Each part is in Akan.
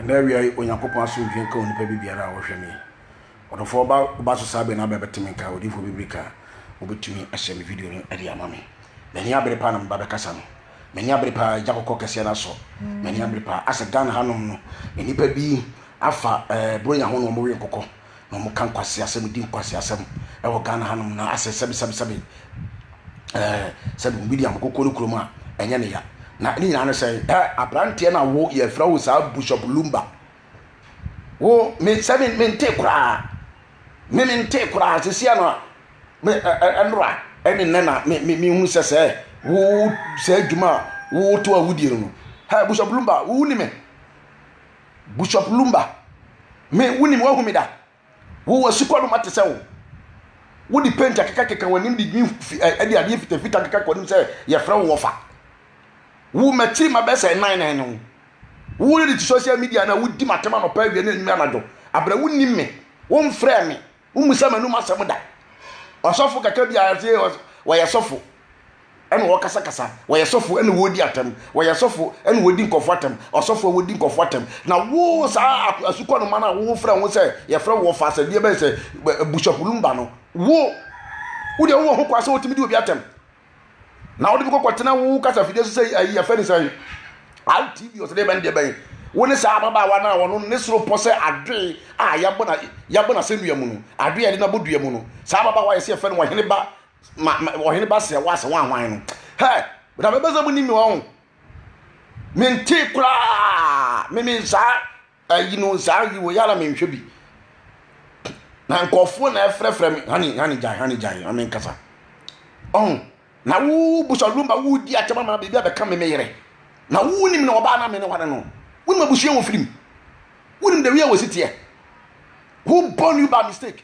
Ɛnnɛ awia yi, Onyankopɔn asomdwoe nka onipa bi biara a ɔhwɛ me. Ɔdɔfo, woba woba so saa bere no abɛn bɛte me nka, odiyifo bibiri ka a, wubetumi ahyɛ me video no de ama me. M'ani abere paa na meba bɛkasa no. M'ani abere paa, egya kɔkɔɔ kɛseɛ no asɔ. M'ani abere paa. Asɛ Ghana hanom no, nnipa bi afa ɛɛ Buronya ho na wɔwe nkokɔ. na ɔmo ka nkwaseasɛm di nkwaseasɛm ɛwɔ Ghana ha nom na asɛ sɛbi sɛbi sɛbi ɛɛ sɛbi William koko ne kurom a ɛnyɛ ne ya na ne nyinaa ne sɛ ɛ abranteɛ na wo yɛfrɛ wo saa Bishop Lumba wo me sɛ me me nte koraa me me nte koraa sisi ano a me ɛ ɛnora ɛne nnɛ na me me me hu sɛ sɛ wo sɛ adwuma a woto a wodie no no ha Bishop Lumba wo ni me. Bushop Lumba, Me, wunim, woahu me da? Wo, w'asukɔ no, mate sɛ wo. Wode paint akekakeka w'anim de green fi ɛ ɛde adeɛ fitafita keka kɔ anim sɛ yɛfrɛ wo wɔfa. Wo, m'akyiri ma bɛyɛ sɛ nnan na ɛne wo. Wo, ne de ti social media no a wodi m'atɛm anɔpa, awia ne anwummerɛ anadwo abrɛ. Wonnim me, womfrɛɛ me, Wommisa m'anom asɛm da. Ɔsɔfo kakra bi a ɔse wɔyɛ sɔfo ɛna wɔkasakasa, wɔyɛ sɔfo ɛna wɔdi atɛm, wɔyɛ sɔfo ɛna wɔdi nkɔfo atɛm, ɔsɔfo a wɔdi nkɔfo atɛm. Na wo saa asukɔnoma no a wofrɛ ho sɛ yɛfrɛ wɔ fa asɛdeɛ bɛyɛ sɛ busuapo lumba no, wo wodeɛ wowɔ ho kwan sɛ wotumi di obi atɛm. na wode bi kɔkɔ tena wo kasa fidie so sɛ ayi yɛfɛ ne sɛ rtv ɔsɛ deɛ bɛn deɛ bɛn wo ne saa ababaawa no a wɔno ne soro pɔ sɛ adoe a yɛabɔ na yɛabɔ na sɛnnua mu no adoe a yɛde no abɔ dua mu no saa ababaawa yɛsɛ yɛfɛ no wɔhene ba ma ma wɔhene ba sɛ wɔasɛ wɔn ahwan no hɛ na mɛbɛ sɛ mo ni mi wɔn mentee koraa meme saa Ayi no saa ayi wei a na menhwɛ bi na nkurɔfoɔ na ɛfrɛfrɛ me hane hane gyan hane gyan na menkasa ɔho na wo busalumba wodi akyɛm ama biribi abɛka me me yere na wonim na ɔbaa na me ne ware no wonim abusua wɔ firim wonim the way a wɔsi teɛ who born you by mistake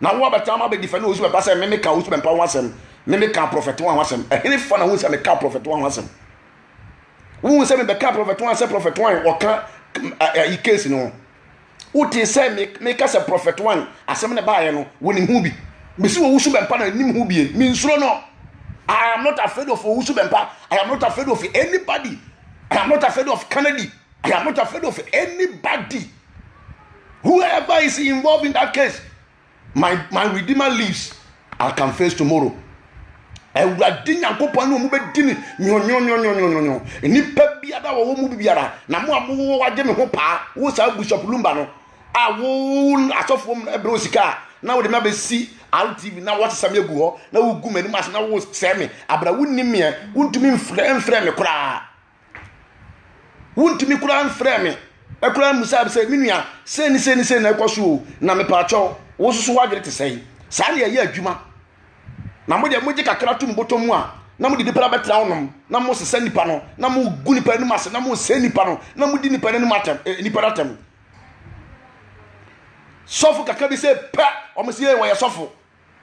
Na wo a bɛtena ama bɛdi fɛ ne osu bɛba sɛ me meka osu bɛmpa ho asɛm, me meka prɔfɛte wa ho asɛm. Ɛhene fa na hu sɛ meka prɔfɛte wa ho asɛm? Wohu sɛ mebɛka prɔfɛte wa sɛ prɔfɛte wa ɔka ayi case no ho? Wotee sɛ meka sɛ prɔfɛte wa asɛm na baayɛ no wonim ho bi? Mesi wɔ wusu bɛmpa na nim ho bi, mensuro no. I am not afraid of wusu bɛmpa. I am not afraid of anybody. I am not afraid of Kennedy. I am not afraid of anybody. Whoever is involved in that case, my, my Redeemer lives. I can face tomorrow. awurade nyankopɔn ne ɔmo bɛdi ne nyonyonyonyonyonyo nnipa biara wɔ wɔn mu biara na mo a mowɔ wagye me ho paa wo saa bishop lumba no a wo asɔfoɔ mu ɛbrɛ wo sika a na wode me abɛsi rtv na wɔsesa me agu hɔ na wogu m'anim ase na wosɛe me abra wonni meɛ wontumi mfrɛ mfrɛ me koraa wontumi koraa mfrɛɛ me koraa mmusaa me sɛ me nua sei ne sei ne sei na ɛkɔ so o na mepaakyɛw wo nso so w'adwene te sɛn saa na yɛyɛ adwuma na mo deɛ mogye kakra to mo bɔtɔ mu a na mode nipa bɛtena wonom na mosesa nipa no na mogu nipa anim ase na mosɛ nipa no na modi nipa no anim atɛm eh, nipa no atɛm sɔfo kakra bi sɛ pɛ wɔn sɛ wɔyɛ sɔfo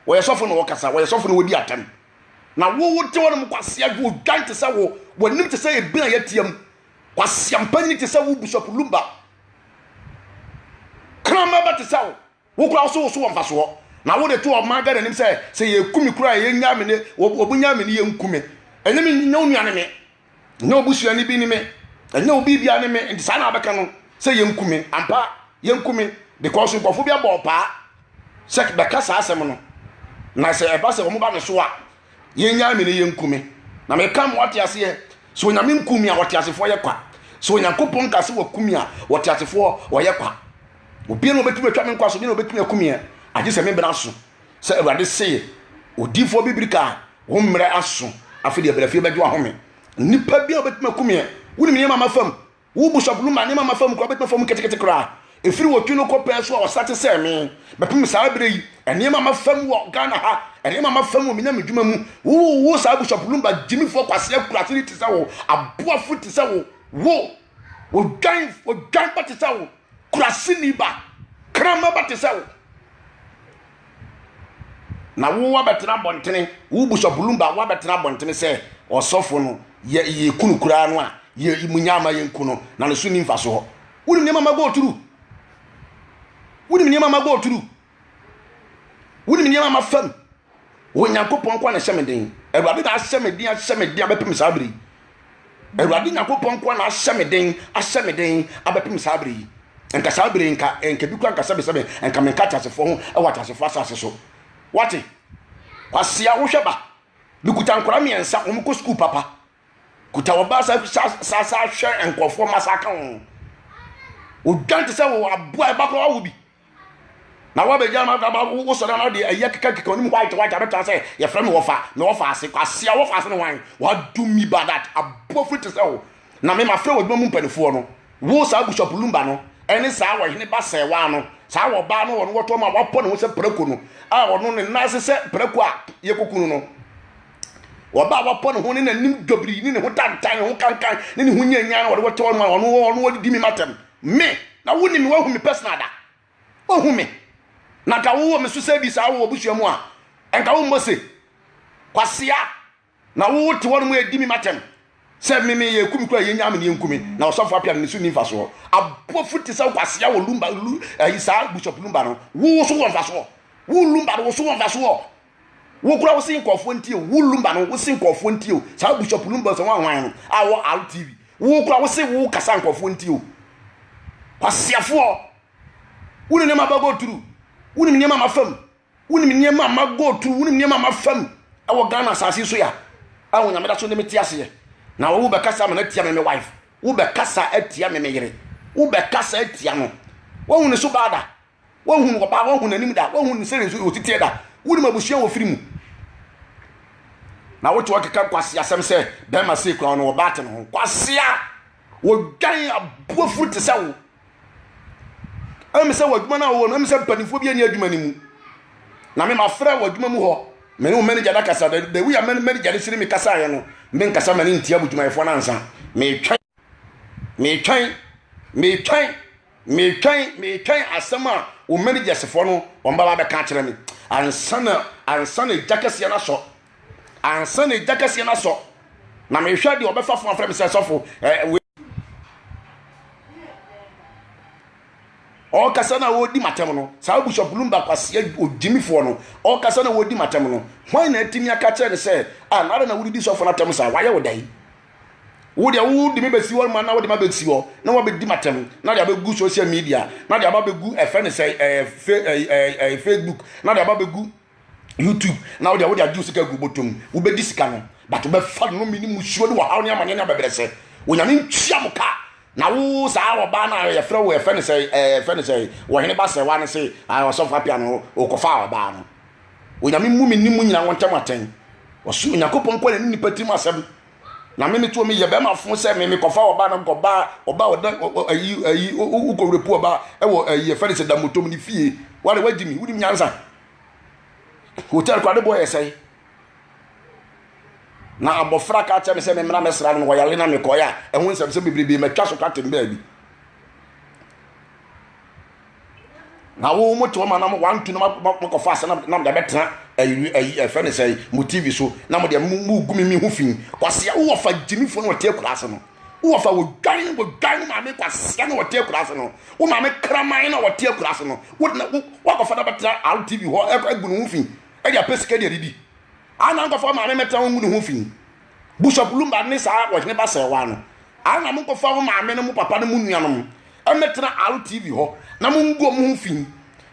Wɔyɛ sɔfo na wɔkasa, wɔyɛ sɔfo na wɔdi atɛm. Na wo wote hɔnom kwasea dwo odwan te sɛ wo, w'anim te sɛ ebin a yɛatia mu. Kwasea mpanyin te sɛ wo, Bishop Lumba. Kraman ba te sɛ wo, wo koraa so wo so wɔ mfasoɔ. Na wode to ɔman Ghana anim sɛ sɛ yɛku me koraa a yɛnyaa me ne, wɔbɛnya me ne yɛnku me. Ɛnyɛ me, nyɛ wo nua ne me. ɛnyɛ wo busua no bi ne me ɛnyɛ wo biribia ne me nti saa na wabɛka no sɛ yɛnku me ampa yɛnku me because nkurɔfoɔ bi abɔ ɔpaa sɛ bɛka saa asɛm no na sɛ ɛba sɛ wɔn ba me so a yɛnyaa me ne yɛnku me na meka mo ate aseɛ sɛ onyame nku me a wɔte asefoɔ yɛ kwa sɛ onyankopɔn ka sɛ waku me a wɔte asefoɔ wɔyɛ kwa obia na ɔbɛtumi atwa me nkwa so bi na ɔbɛtumi aku meɛ agye sɛ me bena so sɛ awurade seye odifoɔ bibiri kaa Wo mmerɛ aso, afe deɛ bra fie bɛgye wahome. Nipa bi a obetumi akum yɛ. Wonim nneɛma ama fam. Wo bishop Luma nneɛma ama fam koraa obetumi fam ketekete koraa. Efiri wɔtwi no kɔ pɛɛ so a ɔsa te sɛ me. Bɛpem saa bere yi. Nneɛma ama fam wɔ Ghana ha. Nneɛma ama fam wɔ me nyame dwuma mu. Wo wo wo saa bishop Lumba gyimifoɔ kwasea kurase ni te sɛ wo. Aboafo te sɛ wo. Wo odwan odwan ba te sɛ wo. Kurase ni ba. Krama ba te sɛ wo. Na wo wabɛtena abɔntene wo busa bulumba wabɛtena abɔntene sɛ ɔsɔfo no yɛ yɛ kunu koraa no a yɛ mu nya ama yɛn ku no na ne so ni mfa so hɔ wonim nneɛma ma go turu wonim nneɛma ma go turu wonim nneɛma ma fam wɔn nyankopɔn kɔ na hyɛ me den awurade na ahyɛ me den ahyɛ me den abɛpem saa bere Awurade Nyankopɔn nko ara na ahyɛ me den, ahyɛ me den abɛpem saa bere yi. Nka saa bere nka, nka bi kura nka sɛbesɛbe, nka menka ateasefoɔ ho wɔ ateasefoɔ asase so. Wate? Kwasea, wohwɛ ba. Mekuta nkora mmiɛnsa, wɔn kɔ sukuu papa. Kuta wɔn ba sa sa sa sa hwɛ nkurɔfoɔ ma sa ka wɔn. Odwan te sɛ wɔ aboa ɛba kora wawo bi. na wabɛgya no akaba wosɔre ana deɛ ɛyɛ kekakeka ɔnim white white abɛtra sɛ yɛfrɛ me wɔfa me wɔfa ase kwasea wɔfa ase ne hwan wado mi badat abɔ firi te sɛ wo na me mafrɛ wɔ adwuma mu mpanifoɔ no wo saa bishop lumba no ɛne saa wɔhene ba sɛwa no saa wɔbaa no wɔno wɔtɔ ma wapɔ ne ho sɛ prako no a ɔno ne nan ase sɛ prako a yɛkɔkunu no wɔba a wɔpɔ ne ho ne n'anim dɔbiri ne ne ho tantan ne ho kankan ne ne ho nyanyan na wɔde wɔtɔ no ma ɔno ɔno wɔde di mi matam Me, na wo nim me wahu me personal da ohu me na nka wo wɔ me so sɛ bi saa wɔ busua mu a nka wo mmɔ se kwasea na wo te hɔ no mu edi me matem sɛ me me yɛ kum kura yɛ nyaame ne yɛ nkumi na ɔsɔfo apia no ne so ni nfa soɔ abɔfo te sɛ kwasea wɔ lumba lu ɛyi saa bishop lumba no wo so wɔ nfa soɔ wo lumba no wo so wɔ nfa soɔ Wo koraa wo se nkurɔfoɔ ntie o, wo Lumba no wo se nkurɔfoɔ ntie o, saa Bishop Lumba Osawahwan no a ɔwɔ Al TV, wo koraa wo se wo kasa nkurɔfoɔ ntie o. Kwaseafoɔ, wonim nneɛma aba go through, wonim nneɛma ma fam, wonim nneɛma ama go through, wonim nneɛma ama fam ɛwɔ Ghana asase so ya a Onyame da so ne me te aseɛ na wo bɛkasa ama no atia me me wife, wo bɛkasa atia me me yere, wo bɛkasa atia no, woahu ne so baada Wohu no ɔbaa, wohu n'anim da, wohu ne sɛdeɛ nso ɔtiteɛ da, wonim abusua a ɔfiri mu. Na wote ɔkeka kwase asɛm sɛ bɛrima sei kura no ɔbaa te ne ho. Kwase a wɔdwan aboafuru te sɛ wo. Ɛm sɛ w'adwuma no a wɔwɔ no, ɛm sɛ mpanimfoɔ bi ani adwuma no mu. Na me mafrɛ w'adwuma mu hɔ, me ne wo manager no akasa, the way a manager no sini me kasaeɛ no, menkasa ma ne ntia mo dwumayɛfoɔ no ansa, metwɛn. Metwɛn, metwɛn, metwɛn, metwɛn asɛm a wo mɛnigyɛsefoɔ no wɔn bɛba bɛka akyerɛ me. Ansa na ansa na egya kɛseɛ no asɔ, ansa na egya kɛseɛ no asɔ, na mehwɛ deɛ ɔbɛfa fo afrɛ me sɛ sɔfo ɛɛ wei. ɔkasa na wɔredi matam no saa bishop lumba kwasia ogyimifoɔ no ɔkasa na wɔredi matam no hwan na atumi aka kyerɛ no sɛ a ah, nara na wodidi sɔfo no atam saa wayɛ wo dɛn Wo deɛ wode me bɛsi hɔ ma na wode me abɛsi hɔ na wabɛdi m'atɛm na de abɛgu social media na de aba bɛgu ɛfɛ ne sɛ ɛɛ facebook na de aba bɛgu youtube na wode wode agye sika gu bɔtɔm wobɛdi sika no but wobɛfa no mene musuo ne wɔhaw ne amaneɛ ne abɛbrɛsɛ onyame ntua mo ka na wo saa ɔbaa no a yɛfrɛ wo ɛfɛ ne sɛ ɛɛ fɛ ne sɛ wɔhene ba sɛ wa ne se ɔsɔfo apia no wokɔfa ɔbaa no Onyame mmu me ne mo nyinaa wɔ ntam atɛn. Ɔsoro Nyankopɔn nko na ne nipa tirim asɛm. Na me meto me yɛ bɛrima fo sɛ me mekɔfa ɔbaa na mekɔbaa ɔbaa ɔda ayi ayi wokɔ wurapu ɔbaa ɛwɔ ayi ɛfɛ ne sɛ da motom ne fie. Wale wagye me wonim nyansa. Hotel kɔ adebɔ yɛ sɛe. Na abɔfra ka kyerɛ me sɛ me mmra mɛsra no mewɔ yale na mekɔɛ a ɛho nsɛm sɛ bebrebe matwa so kwatem baabi. na wo mo te wɔn anam wɔn antu na mo kɔfa asa na mo de abɛtena ayi ayi ɛfɛ ne sɛ mo tv so na mo de mo mo gu mi mi ho fi kwasia wowɔ fa gyimifo na wɔte akura ase no wowɔ fa wɔdwan wɔdwan wo maame kwasia na wɔte akura ase no wo maame kraman na wɔte akura ase no wo na wo wakɔfa na bɛtena rtv hɔ ɛkɔ agu ne ho fi ɛde apɛ sika de adidi ana nkɔfa maame mɛtena wɔn gu ne ho fi. Bishop Lumba ne saa ɔhene ba sɛɛwaa no. Ara na monkɔfa mo maame no, mo papa no, mo nuanom mmɛtena RTV hɔ na mongu wɔn ho fi.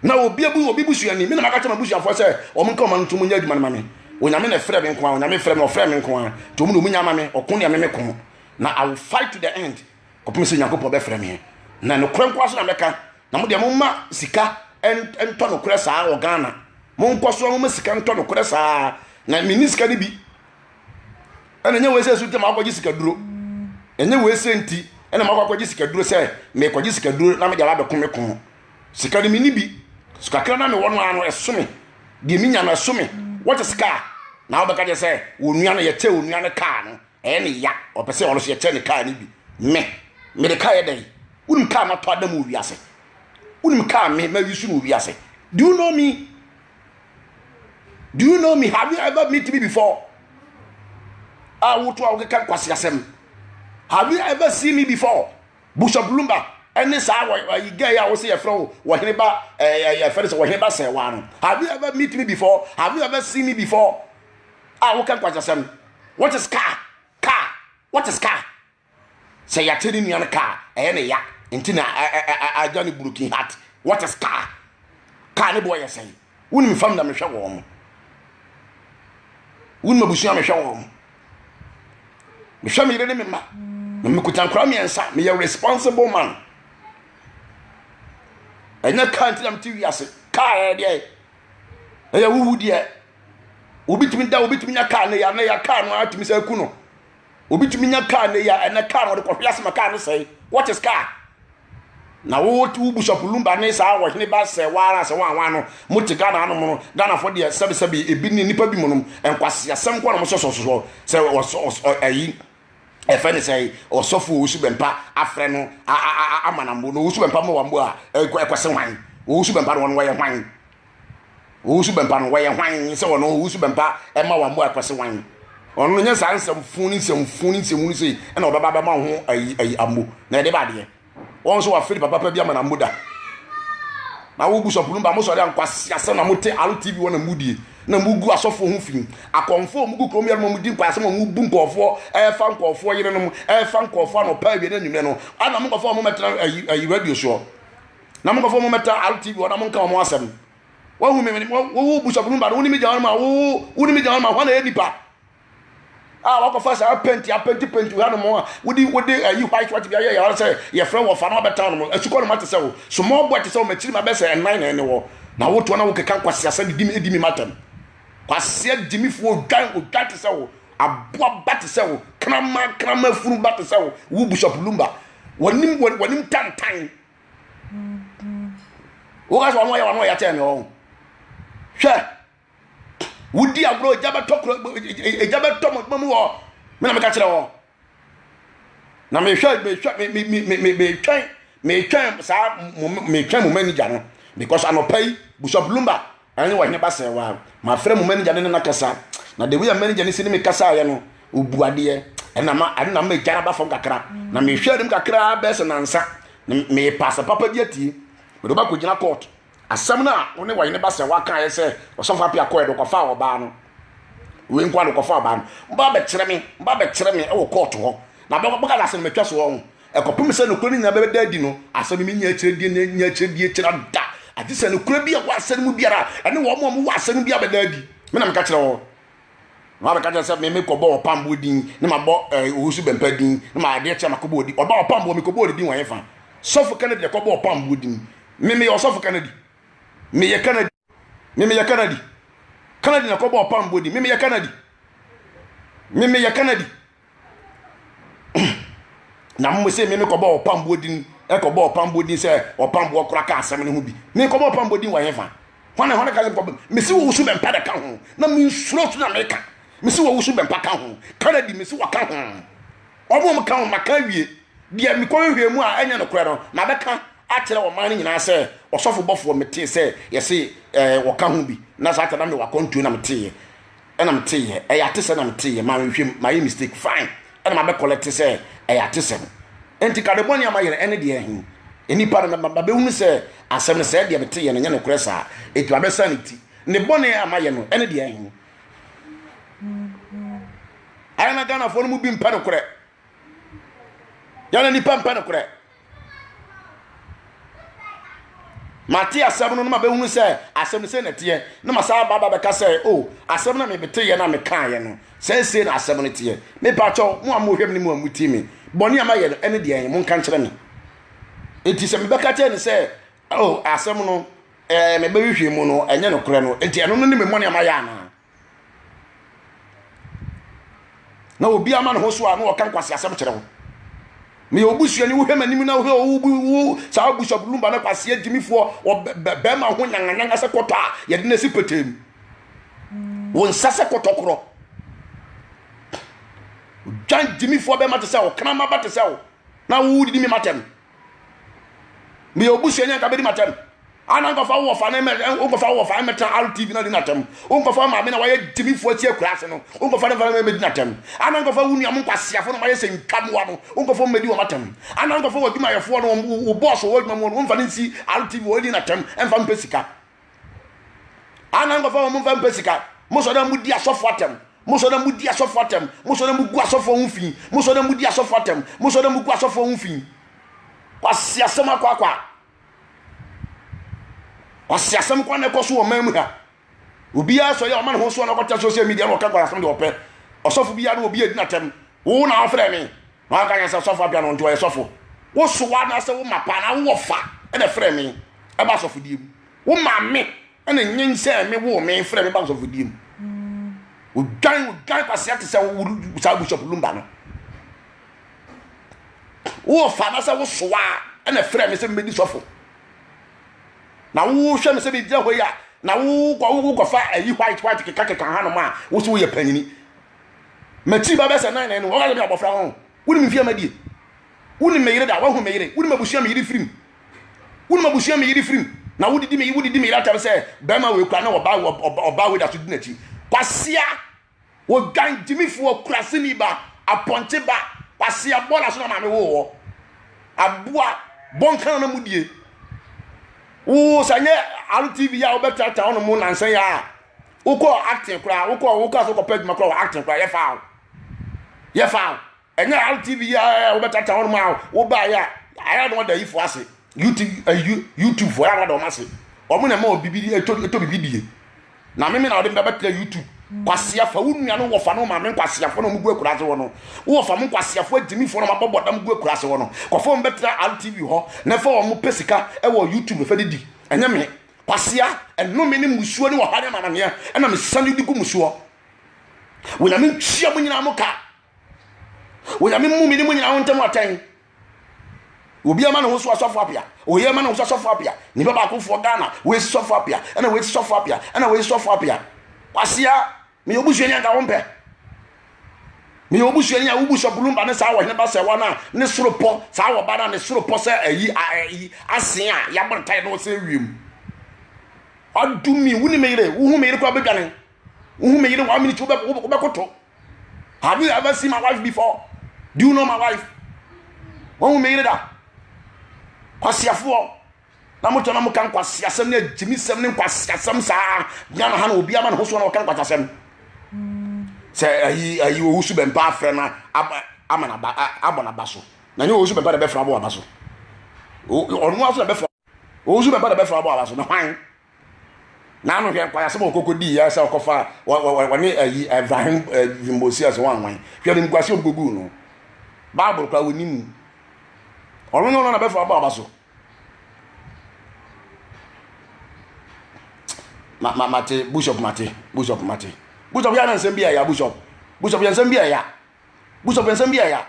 Na obi abu obi busuani. Me na maka kyerɛ m'abusuafoɔ sɛ wɔn nka wɔn ano ntom nyɛ adwuma no ma me. Onyame na ɛfrɛ me nko ara. Onyame frɛ me, ɔfrɛ me nko ara. Nti wɔn na wɔnya ama me. Ɔko deɛ me me ko. Na I will fight to the end. Kɔpem sɛ Nyankopɔn bɛfrɛ me. Na nokorɛ nko ara so na mɛka. Na mo deɛ momma sika ntɔ nokorɛ saa wɔ Ghana. Monkɔ so a momma sika ntɔ nokorɛ saa. Na menni sika no bi. ɛna nyɛ wei sɛ so ntɛm akɔgye sikaduro ɛnyɛ wei sɛ nti ɛna makɔ akɔgye sikaduro sɛ mekɔgye sikaduro na mede abɛko me ko sika no menni bi so kakra na mewɔ no ara no ɛso me deɛ menya no ɛso me wɔte sika a na wobɛka kyɛ sɛ onua no yɛkyɛ onua no kaa no ɛyɛ ne ya ɔpɛ sɛ ɔno so yɛkyɛ ne kaa no bi me mede kaa yɛ dɛn wonim kaa matɔ adam wɔ wiase wonim kaa me mawi so no wɔ wiase do you know me do you know me have you ever meet me before a ah, woto a wokeka nkwaseasɛm have you ever seen me before bishop lumba ɛne saa wɔyi gɛɛ a wɔsi yɛfrɛ wo wɔhene ba ɛɛ yɛfrɛ sɛ wɔhene ba sɛwaa no have you ever meet me before have you ever seen me before a ah, woka nkwaseasɛm what is car car what is car sɛ yɛate ne nua no kaa ɛyɛ ne ya nti na agya ne broken heart what is car car ne boɔ yɛ sɛn wonim fam na mehwɛ wɔn mo wonim abusua mehwɛ wɔn mo mehwɛ me yere ne me mma na mekuta nkora mmiɛnsa meyɛ responsible man ɛnyɛ car nti na mete wiase car ɛyɛ deɛ ɛyɛ wowu deɛ obi tumi da obi tumi nya car ne ya ne ya car no atumi sɛ aku no Obi tumi nya kaa nnɛ yi a ɛnɛ kaa no wɔde kɔhwe ase ma kaa no sɛe. What is car? Na wo wo Bishop Lumba ne saa ɔhene ba sɛ waara sɛ wɔn wɔn ano mo te Ghana anom no Ghanafoɔ deɛ sɛbesɛbe ebi ne nipa bi mu nom nkwaseasɛm kɔ na mo sɔsɔ sɔsɔ sɛ ɔsɔ ɛyi ɛfɛ ne sɛ ɔsɔfo owusu bɛmpa afrɛ no amanambo na owusu bɛmpa ma wɔn bo a ɛkɔse hwan owusu bɛmpa no wɔn wɔyɛ hwan owusu bɛmpa no wɔyɛ hwan sɛ wɔn owusu bɛmpa ɛma wɔn mmoa ɛkɔse wan wɔn no nyɛ saa nsɛmfo ne nsɛmfo ne nsɛmu no sei ɛna ɔbɛba bɛma ho ayi ayi ammo na ɛde ba adeɛ wɔn nso wɔafiri papa pa bi ama na mmo da na wo busɔpo no ba mo sɔre ankwasi asɛm na mo te alo tv wɔn na mo die na mo gu asɔfo ho fi akɔnfo mo gu kurom yɛn mo di nkwaasɛm mo bu nkɔɔfoɔ ɛɛfa nkɔɔfoɔ yere nom ɛɛfa nkɔɔfoɔ anɔpa awie na enyimɛ no ɛna mo nkɔfoɔ mo mɛtena ayi ayi radio soɔ. Na mo nkurɔfoɔ mommɛtra RTB hɔ na monka wɔn asɛm. Wahu me, me- wo- wo- wo busuafo no mu baako, wo ne me gya hɔ no ma, wo- wo- wo ne me gya hɔ no ma, hwan na ɛyɛ nipa? a wakɔfa saa penti apenti penti ha nom a wode wode ayi eh, white white bi ayɛ yɛwara sɛ yɛfrɛ wɔ fa na wabɛtra nom asukɔ nom ate sɛ wo small boy te sɛ wo makyiri ma bɛsɛ ɛnan na ɛne wɔ na wotoɔ na wokeka nkwaseasɛ de di me di me matam kwaseɛ gyimifoɔ odwan odwan te sɛ wo aboa ba te sɛ wo krama krama funu ba te sɛ wo wo busuapulumba wɔnim wɔnim tantan woka sɛ ɔno ɔyɛ ɔno ɔyɛ kyɛn ɔho hwɛ wodi agorɔ egya bɛtɔ kuro egya bɛtɔ mo mu wɔ me na meka kyerɛ wɔ na mehwɛ mehwɛ me me me me metwɛn metwɛn saa mo metwɛn mo manager no because anɔpa yi busa lumba Anyway hene Bassel wa ma frɛ mo manager ne no na kasa na the way a manager ne si ne me kasa ayɛ no obu adeɛ ɛna ma ɛna ma ɛgyara ba fam kakra na me hwɛ anim kakra bɛɛ sɛ nansa me pass papa bi atie mede ba kɔ gyina court asɛm no a wo ne wɔhene Bassel wa kan ayɛ sɛ ɔsɔfo apia kɔɛ do kɔfa ɔbaa no wei nkoa do kɔfa ɔbaa no ba bɛkyerɛ me ba bɛkyerɛ me ɛwɔ court hɔ na bɛka na asɛm no matwa so ɔho Ɛkɔpem sɛ nokorɛ no nyinaa bɛda adi no, asɛm no mennya akyirɛdeɛ na ɛnnya akyirɛdeɛ kyira da, agye sɛ nokorɛ bi a ɛwɔ asɛm no mu biara, ɛne wɔn a wɔwɔ asɛm no biara bɛda adi. Me na meka kyerɛ wo. Na wabɛka kyerɛ sɛ, Me, mekɔbɔ ɔpamboɔ din, na mabɔ eh, owusu bɛmpa din, na ma adeɛ kyɛ makɔbɔ odin. Ɔba ɔpamboɔ, mekɔbɔ odin wɔ hefa? Sɔfo Kennedy na ɛkɔbɔ ɔpamboɔ din. Me, meyɛ ɔsɔfo Kennedy. Meyɛ Kennedy. Me meyɛ Kanadi. Kanadi na kɔbɔ ɔpam bɔ di. Me meyɛ Kanadi. Me meyɛ Kanadi. na mo se me mekɔbɔ ɔpam bɔ din ɛkɔbɔ ɔpam bɔ din sɛ ɔpam bɔ kora ka asɛm no ho bi. Me kɔbɔ ɔpam bɔ din wɔ hefa. Hwane hwane ka sɛ kɔbɔ. Me se wɔwusu bɛmpa de ka ho. Na me nsuro so na meka. Me se wɔwusu bɛmpa ka ho. Kanadi me se wɔka ho. Wɔn a wɔka wɔn maka awie deɛ mekɔhwehwɛɛ mu a ɛnyɛ nokorɛ no, mabɛka akyerɛ ɔman no nyinaa sɛ ɔsɔfo bɔfoɔ metee sɛ yɛse ɛɛ wɔka ho bi, na saa ta na mewɔ akwantuo na meteeɛ, ɛna meteeɛ, ɛyɛ atesɛ na meteeɛ, manhwehwɛm, mayɛ mistake, fine, ɛna mabɛkɔlɛte sɛ ɛyɛ atesɛm. Enti ka de bɔne a mayɛ no, ɛne deɛ he, nnipa no mɛma bɛbɛhunu sɛ asɛm no sɛɛ deɛ meteeɛ no nyɛ nokorɛ saa, enti mabɛsan ne ti, ne bɔne a mayɛ no, ɛne deɛ he. ayɛ na ghanafoɔ no mu bi mpɛ nokorɛ yɛna nipa mpɛ nokorɛ mate asɛm no no ma bɛhunu sɛ asɛm no sɛ na teɛ na ma saa baba bɛka sɛ o oh, asɛm no mebeteeɛ na mekaeɛ no sɛ sei na asɛm no teɛ mepakyɛw mo a mohwɛm ne mu a motie me bɔne a mayɛ no ɛne deɛ monka nkyerɛ me enti sɛ mebɛka kyerɛ ne sɛ Oh, asɛm no, eh, me bɛhwehwɛ mu no, ɛnyɛ nokorɛ no. Enti ɛno no ne me mmɔne a mayɛ anaa? Na obi ama ne ho so a na ɔka nkwasi asɛm kyerɛ wo. Meyɛ obusua ni wohwɛ m'anim na wohwɛ wo wo saa abusuabrulumba no kwasi agyimifoɔ bɛrima ho nyanganyanga sɛ kɔtɔ a yɛde no asi petee mu. Wo nsa sɛ kɔtɔ korɔ. Dwan gyimifoɔ bɛrima te sɛ wo, kramaba te sɛ wo, na wodidi me matɛm. meyɛ wo busuani anka bɛdi m'atɛm ana nkɔfa wo wɔfa ne mɛ nkɔfa wo wɔfa mmɛtena rtv na di n'atɛm nkɔfa wo maame na wayɛ gyimifoɔ atia akura ase no nkɔfa ne mfa ne mɛdi n'atɛm ana nkɔfa wo nua mo nkwaseafoɔ na wayɛ sɛ ntwa mmoa no nkɔfa wɔn mɛdi wɔn atɛm ana nkɔfa wɔ adwumayɛfoɔ no wo bɔɔso wɔ adwuma mu no mfa ne nsi rtv wɔdi n'atɛm mfa mpɛ sika ana nkɔfo a wɔn mfa mpɛ sika mo sɔ na mo di asɔfo atɛm mo sɔ na mo di asɔfo atɛm mo sɔ na mo gu asɔfo ho fi mo sɔ na mo di asɔfo atɛm mo sɔ na mo gu asɔfo ho fi kwasi asɛm akɔ akɔ a kwasi asɛm kwan na ɛkɔ so wɔ man mu ha obiara sɔ yɛ ɔma ne ho so na ɔkɔtɛ social media na ɔka kwasi asɛm deɛ ɔpɛ ɔsɔfo biara na obi adi n'atɛm wo na ɔfrɛ me Wanka nyɛ sɛ sɔfo apia no nti ɔyɛ sɔfo. Wo sowa anaasɛ wo mapa anaa wo wɔfa na ɛfrɛɛ me ba asɔfodie mu. Wo maame na nyinsɛn me, woo me, frɛɛ me ba asɔfodie mu. Odwan, odwan kwasea te sɛ wo saa Bishop Lumba no. Wo wɔfa anaasɛ wo sowa na ɛfrɛɛ me sɛ mebɛdi sɔfo. Na wohwɛ me sɛ megyina hɔ yi a, na wokɔfa ayi white white kekakeka hanom a wo so woyɛ panyini. M'akyi ba bɛyɛ sɛ nan no, ɔka sɛ me abɔfra ho. Wonim mfeɛ madie. Wonim me yere da, woahu me yere. Wonim abusua me yere firim. Wonim abusua me yere firim. Na wodidi me wodidi me yere atɛm sɛ bɛrima wei kura ne ɔbaa ɔbaa wei da so di n'akyi. Kwasia, wodwan gyimifoɔ kurasini ba, apɔnkye ba, kwasia bɔɔla so na maame woo wɔ. Aboa bɔnkan na mudie. Woo sɛ nyɛ RTV a wobɛtratra hɔ no mu nansa yi a wokɔɔ acting koraa wokɔɔ wokaa so kɔpɛ adwuma koraa wɔ acting koraa yɛfaa wo yɛfaa wo ɛnyɛ rtv yi a wobɛtata hɔ nom a wobaeɛ a ayɛ na wɔda yifo ase youtube youtube fo ayɛ na wɔda wɔn ase wɔn na ɛma wɔ bibi ɛtɔ ɛtɔ bibi die na mimi na wɔde bɛbɛtena youtube kwasiafa wo nua no wɔfa no maame nkwasiafoɔ na wɔn gu akura ase wɔ no wɔfa mo nkwasiafoɔ agyimifoɔ na wɔn abɔ bɔdam gu akura ase wɔ no kɔfa wɔn bɛtena rtv hɔ na ɛfa wɔn pɛ sika ɛwɔ youtube fɛ de di ɛnyɛ me. kwasea, nnome ne mmusuo ne ɔhaw ne amaneɛ ɛna mesane de gu mo soɔ. Onyame ntua mo nyinaa mo ka. Onyame mmu me ne mo nyinaa ho ntam atɛn. Obi ama ne ho so asɔfo apia. Oyi ama ne ho so asɔfo apia. Nipa baakofoɔ Ghana, woesi sɔfo apia, ɛna woesi sɔfo apia, ɛna woesi sɔfo apia. Kwasea, meyɛ obusuani anka wompɛ meyɛ obusuani a wobu sɛ bulumba ne saa wɔhene ba sɛ wɔn a ne soro pɔ saa wɔba no a ne soro pɔ sɛ ayi ayi asen a yɛabɔ ne tae na ɔsɛ wiem ɔdumi wo ne me yere wohu me yere kora bɛdwane wohu me yere one minute wobɛkoto have you ever seen my wife before do you know my wife wɔn wo me yere da kwaseafoɔ na mo tena mo ka nkwaseasɛm ne agyimisɛm ne nkwaseasɛm saa bia na ha na obi ama ne ho so na ɔka nkwaseasɛm sɛ ayi ayi owu so bɛmpa afrɛ na ama na abɔ na ba so na nyɛ owu so bɛmpa na bɛfrɛ abɔ aba so ɔno aso na bɛfrɛ owu so bɛmpa na bɛfrɛ abɔ aba so na hwan na ano hwɛ nkwaseasɛm a ɔkɔkɔ di yɛ sɛ ɔkɔfa wɔne ayi ɛbrahim vimbosi asɛ wɔn anwan hwɛ ne nkwasi ɔkɔgu no baabolo kora wɔnim ɔno nyɛ ɔno na bɛfrɛ abɔ aba so ma ma mate bishop mate bishop mate bishop yɛ anansɛm bi ɛya bishop bishop yɛ nsɛm bi ɛya bishop yɛ nsɛm bi ɛya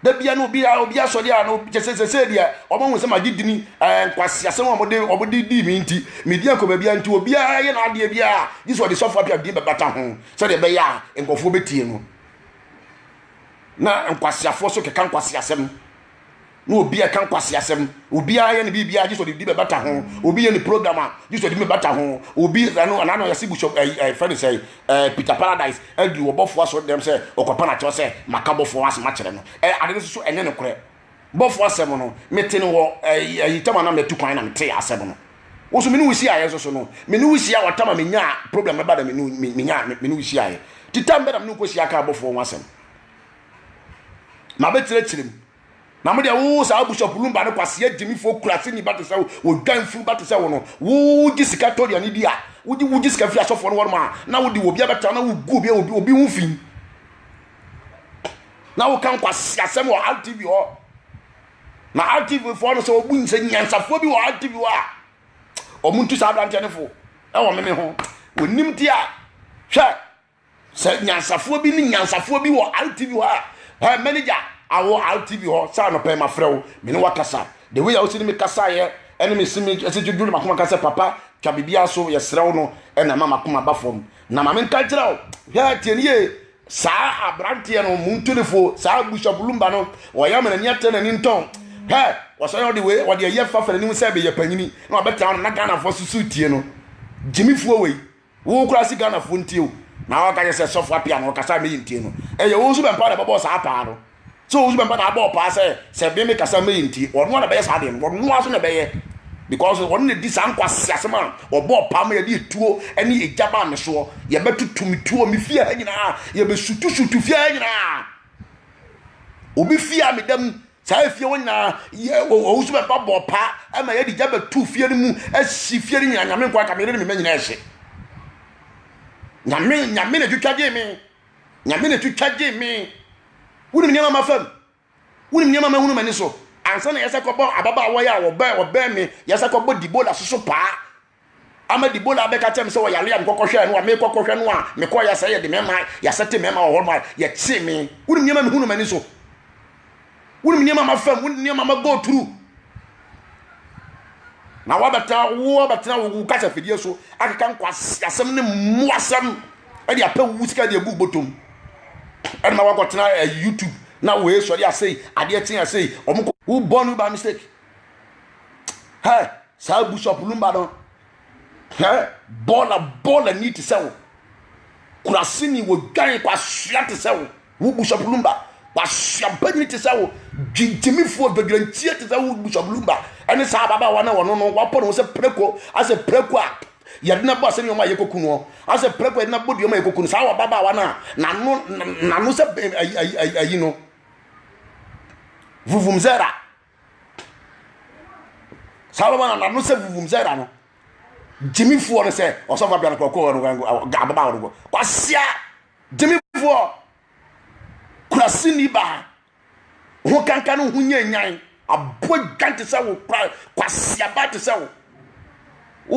da bia no obi a obi asɔre a no kyɛ sɛ sɛ deɛ ɔmo ho sɛ magye dini ɛɛ nkwasi asɛm a ɔmode ɔmode di mi nti medi akɔ baabi a nti obiara yɛ n'adeɛ bi a gye sɛ ɔde sɔfo apia din bɛbata ho sɛdeɛ ɛbɛyɛ a nkurɔfoɔ bɛtie no na nkwasiafoɔ so keka nkwasi asɛm na obi ɛka nkwaseasɛm obi ayɛ ne biribi agye sɛ ɔde biribi bɛbata ho obi yɛ ne program a gye sɛ ɔde biribi bɛbata ho obi ɛno anaa na ɔyɛ se bishop ɛyi ɛyi fɛn sɛ ɛɛ peter paradise ɛdi ɔbɔfoɔ asɔ dɛm sɛ ɔkɔpa na kyerɛ sɛ maka bɔfoɔ asɛm akyerɛ no ɛɛ ade no soso ɛnyɛ ne korɛ bɔfoɔ asɛm no mete no wɔ ɛyi ɛyi tɛm anam na ɛtu kwan na mete asɛm no woso mene wosi ayɛ soso no mene wosi a wɔtama menya program ɛba na mene menya mene wosi ayɛ titam bɛ na mene nkosi aka bɔfoɔ ho asɛm mabɛkyerɛkyerɛ mu Na mo deɛ wo saa abusuapo lumba no kwasia gyimifoɔ kuraseni ba te sɛ wo wo dwanfuru ba te sɛ wo no wo gye sika tɔ aduane di a wo gye wo gye sika firi asɔfoɔ no wɔnom a na wo de wɔ obi abɛtra na wo gu obi a obi obi ho fi na wo kan kwasia sɛm wɔ RTV hɔ na RTV foɔ no sɛ obu nsɛ nyansafoɔ bi wɔ RTV hɔ a wɔn ntu saa aberanteɛ no fo ɛwɔ meme ho wɔnim ti a hwɛ sɛ nyansafoɔ bi ne nyansafoɔ bi wɔ rtv hɔ a ɛ manager awɔ rtv hɔ saa no pɛn mafrɛ wo me ne wakasa the way a wosi ne me kasaeɛ ɛne me si me ɛsi dwodwo ne makoma ka sɛ papa twa biribiara so yɛsrɛ wo no ɛna ɛma makoma ba fam na ma menka nkyerɛ wo hwɛ tie ne yie saa aberanteɛ no mu ntonifoɔ saa bushabulumba no ɔyɛ ama n'ani atɛ n'ani ntɔn hɛ wɔsɛ ɔde wei ɔde ɛyɛ fa fa n'anim sɛ bɛyɛ panyini na ɔbɛtena hɔ no na ghanafoɔ susu tie no gyimifoɔ wei Wo koraa se Ghana foɔ ntie wo na waka kyɛ sɛ sɔfo apia na ɔkasa meyi ntie no ɛyɛ wo nso bɛmpa na ɛbɛbɔɔ saa paa no sɛ wo nso bɛmpa na abɔɔ paa sɛ sɛ me me kasa meyi ntie ɔno ara na ɛbɛyɛ saa deɛ no ɔno ara so na ɛbɛyɛ because ɔno na di saa nkwasi asɛm a ɔbɔɔ paa ma yɛde etuo ne egya baa me soɔ yɛbɛtutu me tuo me fie ha nyinaa yɛbɛsutusutu fie ha nyinaa obi fie a meda mu Saa efie hɔ nyinaa yɛ wɔn nso bɛba bɔ paa ɛma yɛde gya bɛtu fie no mu ɛsi fie no nyinaa nyame nko aka mene ne mema nyinaa ɛhye nyame nyame na twitwa gyee me nyame na twitwa gyee me wonim nneɛma ma fam wonim nneɛma ma hunu m'ani so ansa na yɛsɛ kɔbɔ ababaawa yɛ a wɔbɛn wɔbɛn me yɛsɛ kɔbɔ dibola soso paa ama Debola abɛka kyerɛ me sɛ ɔyare a mekɔkɔhwɛɛ no a mekɔkɔhwɛ no a mekɔɔ yɛ sɛ yɛde mɛma yɛasɛte mɛma wɔ hɔ no a yɛkyee me wonim nneɛma mehu no m'ani so wonim nneɛma mafam wonim nneɛma ma go through na wabɛtena wo abɛtena wo kasa fidie so akeka nkwasi asɛm ne mmoasɛm ɛde apɛ wo sika de agu bɔtɔm ɛde ma wakɔtena eh, youtube na wɔyɛ sɔre asɛi adeɛ kyen asɛi wɔn kɔ wobɔ no by mistake hɛ saa bishop no mma no hɛ bɔɔla bɔɔla ni te sɛ wo kurasini wɔ dwan kwasua te sɛ wo wo bishop no mma kwasua banyini te sɛ wo gyingyimifoɔ dwadwantie te sɛ wo bishop no mma ɛne saa ababaawa na wɔno no wɔapɔ ne ho sɛ preko asɛ preko a yɛde na bɔ asɛ nneɛma a yɛkɔku no asɛ preko a yɛde na bɔ deɛma a yɛkɔku no saa wɔ ababaawa no a nano nano sɛ ayi no vuvum zɛra saa bɛma na n'ano sɛ vuvum sɛ da no gyimifoɔ no sɛ ɔsɔfo abia no kɔkɔɔ no ababa hɔ no kɔ kwasia gyimifoɔ kurasini baa ho kanka no ho nyɛ nyan abɔ dwan te sɛ wo kura kwasia ba te sɛ wo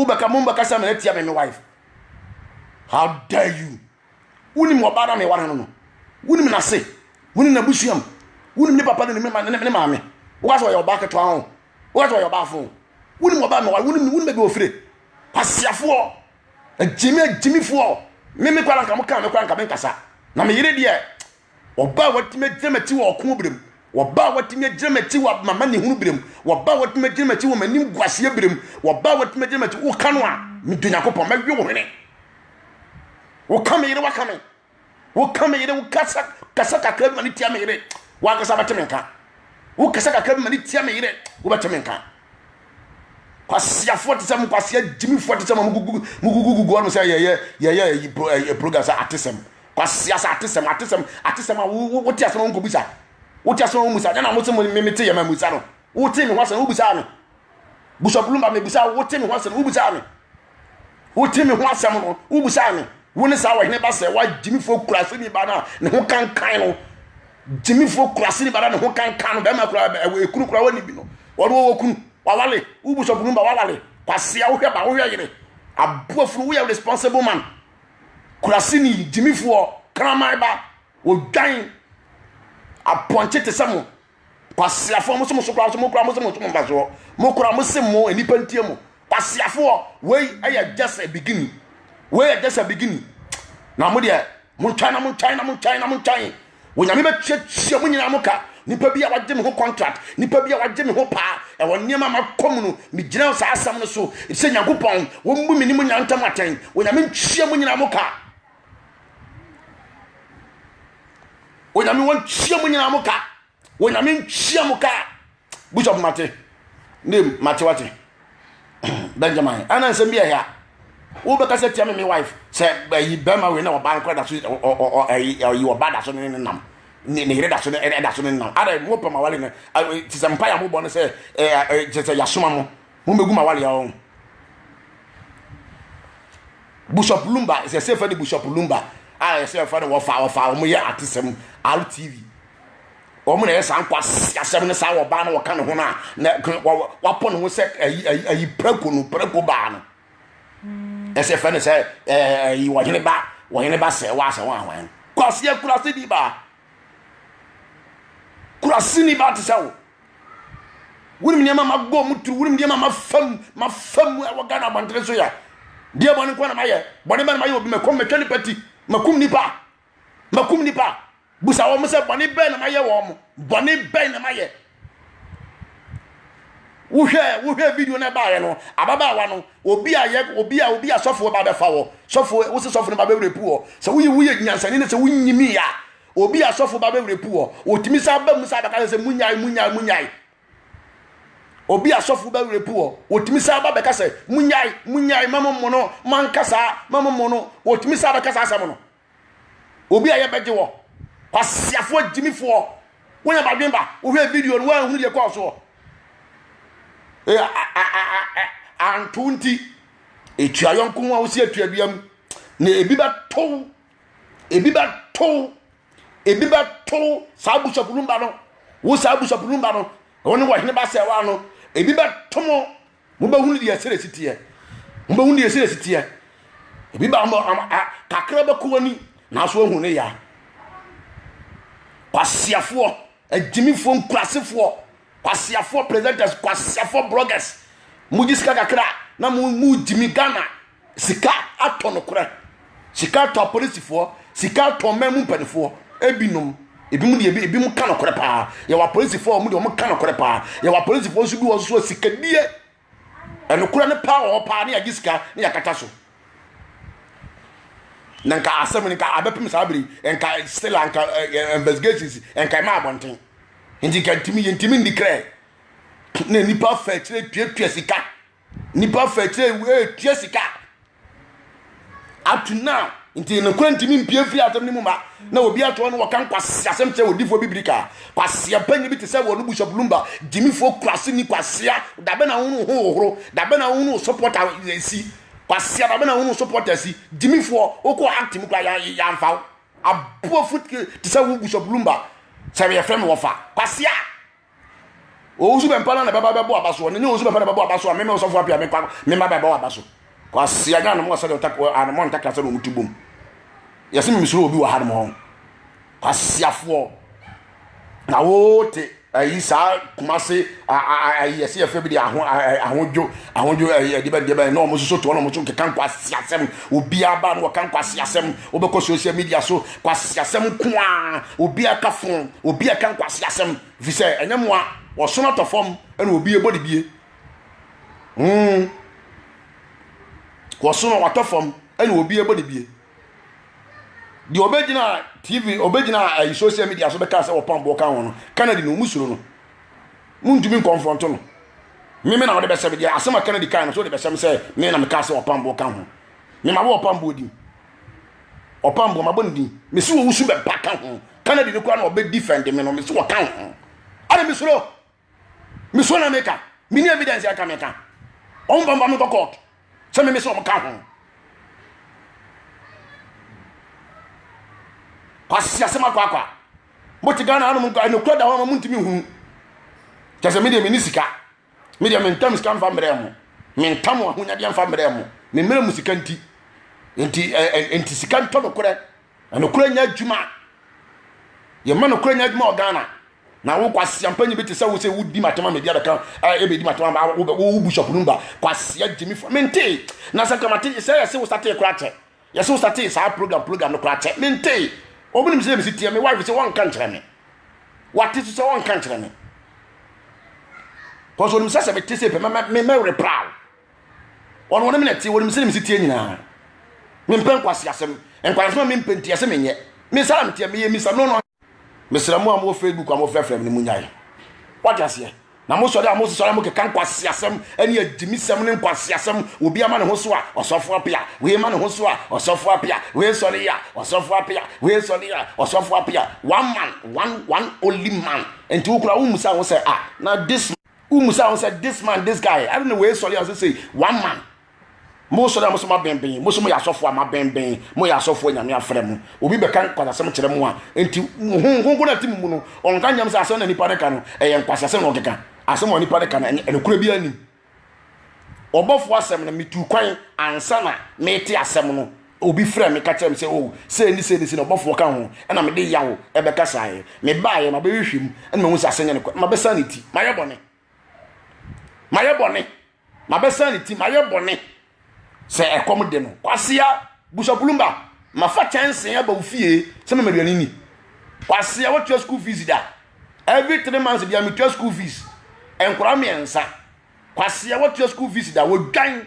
wobɛka mo mbɛka sɛ mena tia me me wife how dare you Wonim ɔbaa no a meware no no. Wonim n'ase. Wonim n'abusua mu. Wonim ne papa ne ne mma ne ne maame. Woka sɛ ɔyɛ ɔbaa ketewa ho. Woka sɛ ɔyɛ ɔbaa fo. Wonim ɔbaa a meware. Wonim no. Wonim baabi a ofire. Kwasiafoɔ. Agyimi agyimifoɔ. Me me koraa na nka mo kaa me koraa nka menkasa. Na me yere deɛ Wɔba a wɔatumi agyina m'akyi wɔ ɔko berɛ mu, wɔba a wɔatumi agyina m'akyi wɔ m'amanehunu berɛ mu, wɔba a wɔatumi agyina m'akyi wɔ m'anim guaseɛ berɛ mu, wɔba a wɔatumi agyina m'akyi woka no a medwo Nyankopɔn mɛwe wo hwene. Woka me yere waka me, woka me yere wokasa kasa kakra bi ma ne tia me yere, wankasa bɛte me nka. Wokasa kakra bi ma ne tia me yere, wobɛte me nka. Kwaseafoɔ te sɛ mo kwasea gyimifoɔ te sɛ mo a mogugu mogugugugu ɔnom sɛ yɛyɛ yɛyɛ ayi pro ɛyi eh, program sɛ atesɛm kwasea sɛ atesɛm atesɛm atesɛm a wo wo te asɛm a wonkɔbusa wote asɛm a wonbusa ɛna mo se mo me me te yɛ ma musa no wote me ho asɛm wobusaa me busa bulumba me busa wote me ho asɛm wobusaa me Wote me ho asɛm no, wobisaa me, Wo ne saa ɔhene ba sɛ wa gyimifoɔ kuraseni ba no a ne ho kankan no gyimifoɔ kuraseni ba no a ne ho kankan no bɛrima kura ɛwɔ ekunu kura wɔne bi no wɔde wɔwɔ kunu wawale wobusɔfo no ba wawale kwasea wohwɛ ba wohwɛ yere aboafunu woyɛ responsible man kuraseni gyimifoɔ kraman ba wɔdwan apɔnkye te sɛ mo kwasiafoɔ mo se mo so kora mo se mo kora mo se mo so mo mfasoɔ mo kora mo se mo nnipa ntie mo kwasiafoɔ wei ɛyɛ just a beginning wei yɛ just a beginning na mo deɛ mo ntwan na mo ntwan na mo ntwan na mo ntwan wɔnyame bɛtuatua mo nyinaa mo ka nipa bi a wagye me ho contract nipa bi a wagye me ho paa ɛwɔ nneɛma ma kɔ mu no megyina saa asɛm no so sɛ nyankopɔn wɔmmu me ne mo nyinaa ntam atɛn wɔnyame ntua mo nyinaa mo ka onyame wɔnkyia mu nyinaa mo ka onyame nkyia mo ka bishop mate ne mate wate benjamin ɛna nsɛm bi ɛyɛ a wobɛka sɛ tia me me wife sɛ ayi bɛrima wei na ɔba nkora da so ayi ɔba da so ne ne nam ne ne yere da so ne ɛda so ne nam ada mo pɛ ma wale ne te sɛ mpa yɛ mo bɔ ne sɛ te sɛ yasoma mo Mo megu ma wale ɔn. Bishop Lumba sɛ sɛ fɛ ne Bishop Lumba a yɛ sɛ fɛ ne wɔfa wɔfa wɔn yɛ atesɛm RTV wɔn na yɛ saa nkwa asɛm ne saa wɔ baa na wɔka ne ho na na wapɔ ne ho sɛ ayi ayi ayi preko no preko baa no ɛsɛ fɛ ne sɛ ɛɛ ayi wɔhene ba wɔhene ba sɛ wɔasɛ wɔn ahwan kwaseɛ kurase ni baa kurase ni baa te sɛ wo. Wonim nneɛma mabɔ mu turu, wonim nneɛma mafam, mafam wɔ Ghana abɔntene so yɛ. Deɛ bɔne nko na mayɛ, bɔne bɛn na mayɛ obi, makum, matwa nipa ti, makum nipa, makum nipa. Busa wɔn sɛ bɔne bɛn na mayɛ wɔn, bɔne bɛn na mayɛ. Wohwɛ wohwɛ video na ɛbaayɛ no, ababaawa no, obi a yɛ obi a obi a sɔfoɔ ba bɛfa wɔ, sɔfoɔ wosi sɔfoɔ no ba bɛwura pu wɔ. Sɛ woyɛ woyɛ nyansani ne sɛ wonyimi a, Obi a sɔfo ba bɛwerɛ pu wɔ, wɔtumi san ba mu san bɛka sɛ sɛ munyae, munyae, munyae. Obi a sɔfo ba werɛ pu wɔ, wɔtumi san ba bɛka sɛ munyae, munyae, ma mo mmono, ma nka saa, ma mo mmono, wɔtumi san bɛka saa asɛm no. Obi a yɛbɛgye wɔ, kwasiafoɔ gyimifoɔ, wɔn abadwen ba, wɔhwɛ video no, wɔanhunu deɛ kɔɔ soɔ. Anto nti, etua yɔnko ho a wosi atua dua mu, na ebi bɛtow ebi bɛ to ebi bɛ to saa abusuapo no ba no wo saa abusuapo no ba no wɔn ne wɔhene ba sɛ wa no ebi bɛ to mo mo bɛ hu ne deɛ ɛsɛ ɛsi teɛ mo bɛ hu ne deɛ ɛsɛ ɛsi teɛ ebi ba mo kakra bɛ kɔ wani nanso ehu ne ya kwasiafoɔ agyimifoɔ nkurasefoɔ kwasiafoɔ presenters kwasiafoɔ bloggers mo gyi sika kakra na mo mo gyimi ghana sika atɔ nokorɛ sika atɔ apolisifoɔ sika atɔ ɔman mu mpanimfoɔ ebinom ebinom deɛ ebinom ka nokorɛ paa yɛwɔ apolisifoɔ a wɔn deɛ wɔn ka nokorɛ paa yɛwɔ apolisifoɔ nso bi wɔ so sikadie ɛnokorɛ no paa wɔ hɔ paa ne yɛagye sika ne yɛakata so na nka asɛm no nka abɛpem saa bere nka still nka investigations nka ɛma abɔnten nti nka ntumi yɛntumi ndi krɛ na nipa fɛ akyire tuatua sika nipa fɛkyerɛ ewu etua sika ato na nti ne kura ntumi mpie mfiri asɛm no mu ma na obi atoɔ no wɔka nkwasi asɛm kyerɛ odifoɔ bibiri ka kwasia panyin bi te sɛ wɔn busa bulumba gyimifoɔ kwasi ni kwasia dabe na ahunu ho hohoro dabe na ahunu sopɔta esi kwasia dabe na ahunu sopɔta esi gyimifoɔ okɔ akti mu kura yanfa aboɔ fo te sɛ wɔn busa bulumba sɛ yɛfrɛ no wɔfa kwasia. Owusu bɛmpa na ne bɛba bɛbɔ aba so. Ɔne ne owusu bɛmpa na bɛbɔ aba so a meme ɔsɔfo apia me pa me mma bɛbɔ aba so. Kwasi anya anom ɔsɛ de ɔtak anom ntakra sɛ na ɔmo ti bom. Yɛse meme suro obi wɔ ha nom hɔ. Kwasiafoɔ na wote ayi saa kumase ayi yɛse yɛfrɛ bi de aho ahodwo ahodwo ayi ɛde bɛn de bɛn na ɔmo soso to ɔmo so keka nkwasi asɛm obiara ba no wɔka nkwasi asɛm wobɛkɔ social media so Nkwaseasɛm nko ara, obi aka fo, obi aka nkwaseasɛm, ɛfiri sɛ ɛnyɛ mmoa, wɔsono tɔ fam na obi bɔ dibie. Hmm. Wɔsono wɔtɔ fam na obi bɔ dibie. Deɛ ɔbɛgyina TV, ɔbɛgyina ayi eh, social media so bɛka sɛ wɔpam boɔ ka ho no, Kennedy no, ɔmu suro no. Montumi nkɔnfrɔnto no. Meme na wode bɛsɛm deɛ asɛm a Kennedy kae no so wode bɛsɛm sɛ me na mekaa sɛ wɔpam boɔ ka ho. Mema wo wɔpam boɔ din. ɔpam bɔ mabɔ ne din mese wɔ wusu bɛba ka ho canada no kora na ɔbɛ defend me no mese wɔ ka ho ana mesoro mesoro na meka mini evidence aka meka ɔmo bamba me kɔ court sɛ me mese ɔmo ka ho kwasi asɛm akɔ akɔ a mote ghana anom nkɔ ɛnokura da hɔ ma montumi hunu kyɛ sɛ medeɛ meni sika Me deɛ mentam sika mfa mmerɛ mo. Mentam wɔn ahonyadeɛ mfa mmerɛ mo. Me mmerɛ mu sika nti. Nti ɛ eh, ɛ eh, nti sika ntɔ nokorɛ. Nokorɛ nyɛ adwuma. Yɛma nokorɛ nyɛ adwuma wɔ Ghana. Na wo kwasia mpanyin bi te sɛ wo sɛ wodi matema medi abɛka ɛbɛdi eh, matema ba wo bishop no ba kwasia gyimi fo mentee na sɛ kama te sɛ yɛse wo sa tee kora kyɛ Yɛse wo startee saa program program no koraa kyɛ me ntee wɔn nim sɛ mesi teɛ me wife sɛ wɔnka nkyerɛ me wate so sɛ wɔnka nkyerɛ me kɔsɛ onim sɛ sɛ mete sɛ pɛ mɛwerɛ paa ɔno ɔne me na teɛ wɔnim sɛ mesi teɛ nyinaa mempɛ nkwasi asɛm nkwansoma mempɛ nti ɛsɛ menyɛ mesa na meteɛ meyɛ misa no no Mesrɛ mo a mowɔ Facebook a mofrɛfrɛ me no munyae. Wate aseɛ? Na mosɔre a mosesɔre a mokeka nkwaseasɛm ne agyimisɛm ne nkwaseasɛm obi ama ne ho so a ɔsɔfo apea wei ma ne ho so a ɔsɔfo apea wei sɔre a ɔsɔfo apea wei sɔre a ɔsɔfo apea one man one one only man nti wokura wo musa ho sɛ a ah, na this womusa ho sɛ this man this guy ade na wei sɔre a ɔsɛ sei one man mosɔre a moso mabɛnbɛn moso moyɛ asɔfo a mabɛnbɛn moyɛ asɔfo a nyame afrɛ mo obi bɛka nkwasasɛm kyerɛ mo a nti honkonko na ti mu mu no ɔnka nyam sɛ asɛm na nipa no ka no ɛyɛ nkwasasɛm na ɔkeka asɛm a nipa no ka no ɛnokora bi anim ɔbɔfo asɛm no metu kwan ansa na mete asɛm no Obi frɛɛ me ka kyerɛɛ me sɛ, 'O, sei ne sei ne sei na ɔbɔfoɔ ka ho, ɛnna mede yaw bɛkasaeɛ. Mebaeɛ, mabɛhwehwɛ mu, ɛnna mahu sɛ asɛm nyɛ nokorɛ, na mabɛsan ne ti. Mayɛ bɔne! Mayɛ bɔne! Mabɛsan ne ti, mayɛ bɔne! Sɛ ɛkɔm de no, Kwasea Bushapulumba, mafa kyɛnsee aba wo fie sɛ mema aduane ni. Kwasea, wotua school fees da? Every three months bia metua school fees. Nkwadaa mmiɛnsa. Kwasea, wotua school fees da? Wɔdwan.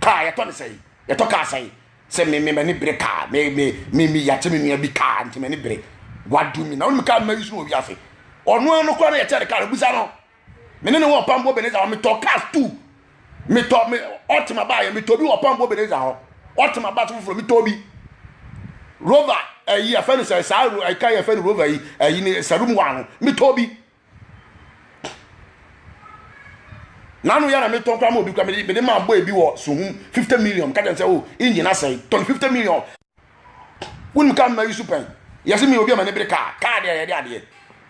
kaa yɛtɔ ne sɛn yɛtɔ kaa sɛn sɛ me me m'ani bere kaa me me me me yɛakyɛ me nua bi kaa nti m'ani bere wadu mi na wɔn kaa mma yi so wɔ wiase ɔno ano kora no yɛkyɛ ne kaa no busa no me ne ne wɔ ɔpampo beneza hɔ metɔ cars two metɔ me ɔtema baa yɛ metɔ bi wɔ ɔpampo beneza hɔ ɔtema baa so foforɔ metɔ bi rover ɛyi afɛn no sɛ saa ɛka yɛ fɛn rover yi ɛyi ne sɛ room wa no metɔ bi Nanu ya na mi tɔn kura ma obi kura mi de mi de maa boy bi wɔ suhum fifty million ka kyɛn sɛ o engine asɛe tɔn fifty million wunim kaa mma yi su pɛn yɛsi mi obi a ma ne bere kaa kaa deɛ yɛde adeɛ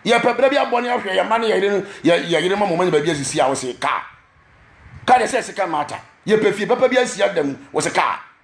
yɛpɛ bere bi abɔ ne ahwɛ yɛ mma ne yɛ yere yɛ yere ma mo ma nyɛ baabi asisi a wɔsi kaa kaa deɛ sɛ ɛsi kan maata yɛpɛ fie papa bi asi ada mu wɔsi kaa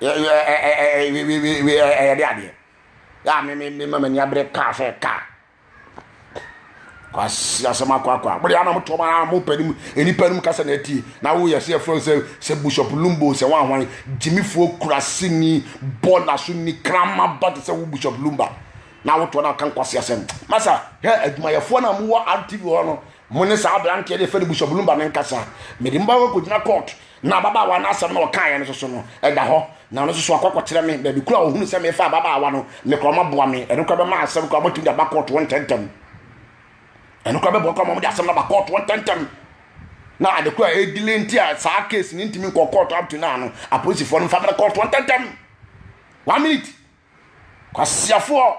yɛ yɛ ɛ ɛ ɛ ɛ wi wi wi ɛ ɛ yɛde adeɛ yɛ a me me me ma m'ani abere kaa sɛ kaa kwasi asɛm akɔ akɔ a mo de ama mo tɔm ara mo pɛ ne mu nipa no mu kasa na ɛti na wo yɛ sɛ ɛfrɛ sɛ sɛ bishop lumbo sɛ wɔn ahwan gyimifoɔ kurasi ni bɔɔla so ni krama ba te sɛ wo bishop lumba na wotɔ na kan kwasi asɛm masa hɛ adwumayɛfoɔ na mo wɔ rtv hɔ no mo ne saa aberanteɛ de fɛ no bishop lumba ne nkasa mede mo ba kɔ gyina court Na ababaawa no asɛm na ɔkaeɛ no soso no, ɛda hɔ, na ɔno nso so akɔ akɔkyerɛ me baabi koro a ɔhunu sɛ mefa ababaawa no, me kora ɔmaboa me, ɛno kora bɛma asɛm kora ɔmatumi de aba kɔɔtoɔ ntɛntɛm. Ɛno kora bɛboa kora ma wɔde asɛm no aba kɔɔtoɔ ntɛntɛm. Na ade kora a ɛdile nti a saa case no ntumi nkɔ kɔɔtoɔ up to now no, apolisifoɔ no mfa mmerɛ kɔɔtoɔ ntɛntɛm. One minute. Kwasiafoɔ.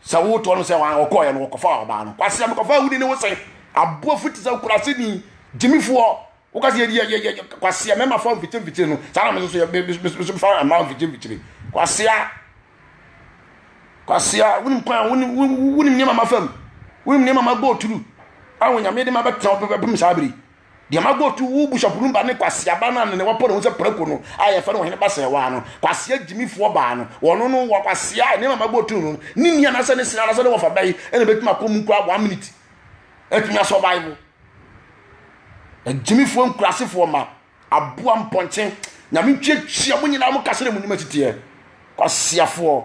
Sɛ wotoɔ no sɛ wɔn a wɔkɔɔeɛ no wɔkɔfaa ɔbaa no. Kwasi amekɔfaa wuni ne wo sɛn? Aboa fiti sɛ kurase ni gyimifoɔ. Woka sɛ yɛ yɛ yɛ kwasi a mɛma fa mfikyire mfikyire no. Saa na me nso yɛ me me me nso fa mma mfikyire mfikyire. Kwasi a kwasi a wonim kwan wonim wonim nneɛma ma fam. Wonim nneɛma ma bɔ oturu. Awo nyame de ma bɛtena bɛpem saa bere. deɛ ma gotu wo bishop no ba ne kwasia ba no a ne wɔpɔ ne ho sɛ prako no a yɛfɛ no wɔhene ba sɛ waa no kwasia gyimifoɔ baa no wɔno no wɔ kwasia nneɛma ma gotu no ne ni anasɛ ne sena anasɛ ne wɔfa bɛyi ɛna bɛtumi akɔ mu koraa one minute ɛtumi asɔ bible agyimifoɔ nkurasefoɔ ma aboa mpɔnkye nyame ntwia kyia mo nyinaa mo kasere mo nim atiteɛ kwasiafoɔ